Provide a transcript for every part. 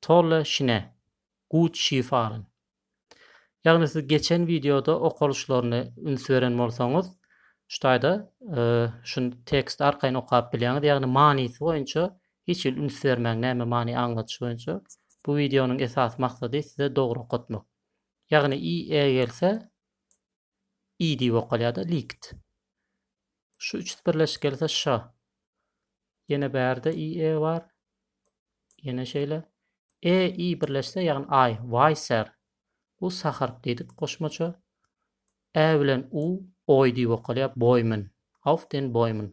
Tolle Schnä, Gut Skifahren. Ýagny siz geçen wideoda okalyşlaryny üns beren bolsaňyz, şu taýda şu tekst arkaýyn okap bilýäňiz, ýagny manysy boýunça hiç hili üns bermäň, näme many aňladyş boýunça. Bu wideonyň esasy maksady size dogry okatmak. Ýagny i e gelse, i diýip okalýar-da, likt. Şu üçüsi birleşip gelse şa. Ýene bärde i, e bar. Ýene şeýle. E, i birleşse, ýagny aý, waýser. Bu sa harp diýdik goşmaça. Ä bilen u, oý diýip okalýar, boýmin. Auf den Bäumen.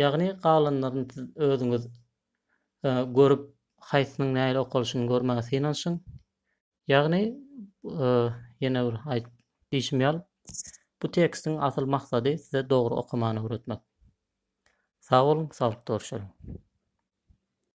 Ýagny galanlaryny siz özüňiz görüp haýsynyň nähili okalyşyny görmäge synanyşyň. Ýagny ýene bir aýt diýşim ýal bu tekstiň asyl maksady size dogry okamany öwretmek. Sag boluň saglyk dorşalyň.